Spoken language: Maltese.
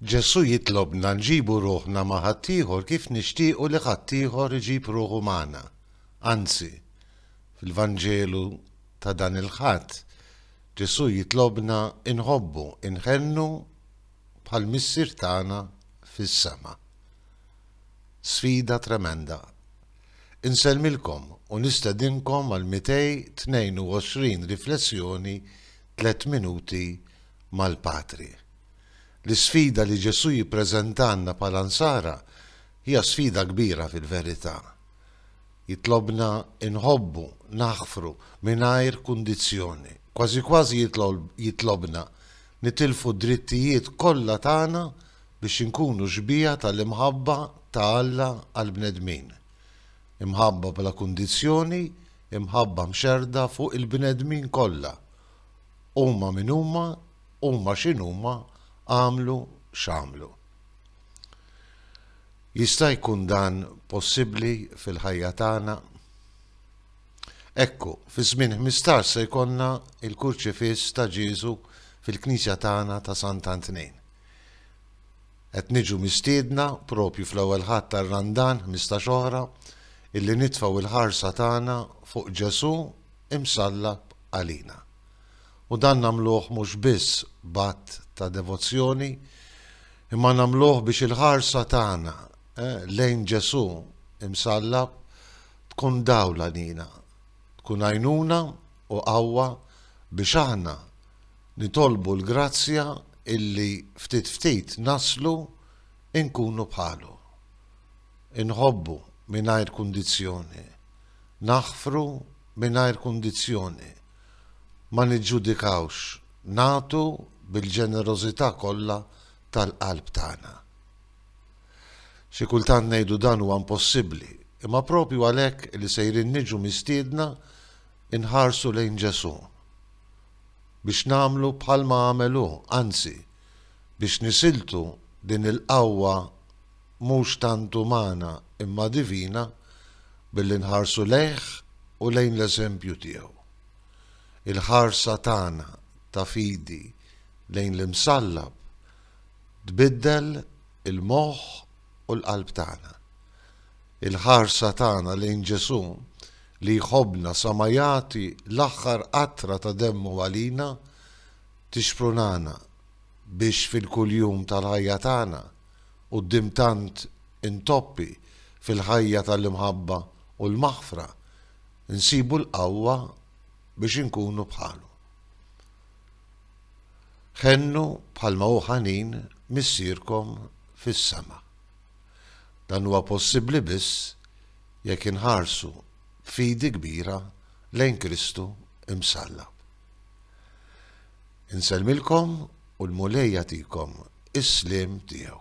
Ġesù jitlobna nġibu ruħna ma' ħaddieħor kif nixtiequ li ħaddieħor iġib ruħu magħna. Anzi, fil-Vanġelu ta' dan il-Ħadd, Ġesù jitlobna nħobbu, inħennu bħal Missier tagħna fis-sema. Sfida tremenda! Insellmilkom u nistedinkom għal 222 riflessjoni tliet minuti mal-Patri. L-isfida li Ġesù jippreżentalna bħala Nsara hija sfida kbira fil-verità. Jitlobna nħobbu, naħfru, mingħajr kundizzjoni. Kważi kważi jitlobna nitilfu d-drittijiet kollha tagħna biex inkunu xbieha tal-imħabba ta' Alla għall-bnedmin. Imħabba bla kundizzjoni, imħabba mxerrda fuq il-bnedmin kollha. huma min huma, huma x'inhuma, għamlu x'għamlu. Jista' jkun dan possibbli fil-ħajja tagħna? Ekku, fi żmien 15 se jkollna il-kurċifiss ta' Ġieżu fil-Knisja tagħna ta' Sant'Antnejn. Qed niġu mistiedna propju fl-ewwel ħadd tar-Randan 15 oħra illi nitfgħu l-ħarsa tagħna fuq Ġesù imsallab għalina. U dan nagħmluh mhux biss b'att ta' devozzjoni, imma nagħmluh biex il-ħarsa tagħna lejn Ġesù imsallab tkun dawl għalina, tkun għajnuna u qawwa biex aħna nitolbu l-grazzja illi ftit ftit naslu inkunu bħalu. Inħobbu mingħajr kundizzjoni. Naħfru mingħajr kundizzjoni. Ma niġġudikawx, nagħtu bil-ġenerożità kollha tal-qalb tagħna. Xi kultant ngħidu dan huwa impossibbli, imma proprju għalhekk li sejrin niġu mistiedna nħarsu lejn Ġesù, biex nagħmlu bħalma għamel hu, anzi, biex nisiltu din il-qawwa mhux tant umana imma divina billi nħarsu lejh u lejn l-eżempju tiegħu. Il-ħarsa tagħna ta' fidi lejn l-Imsallab tbiddel il-moħħ u l-qalb tagħna. Il-ħarsa tagħna lejn Ġesù li jħobbna sa ma jagħti l-aħħar qatra ta' demmu għalina tixprunana biex fil-kuljum tal-ħajja tagħna Quddiem tant intoppi fil-ħajja tal-imħabba u l-maħfra, nsibu l-qawwa biex inkunu bħalu. Ħennu bħalma hu ħanin Missierkom fis-sema. Dan huwa possibbli biss jekk inħarsu b'fidi kbira lejn Kristu Imsallab. Insellmilkom u l-Mulej jagħtikom is-sliem tiegħu.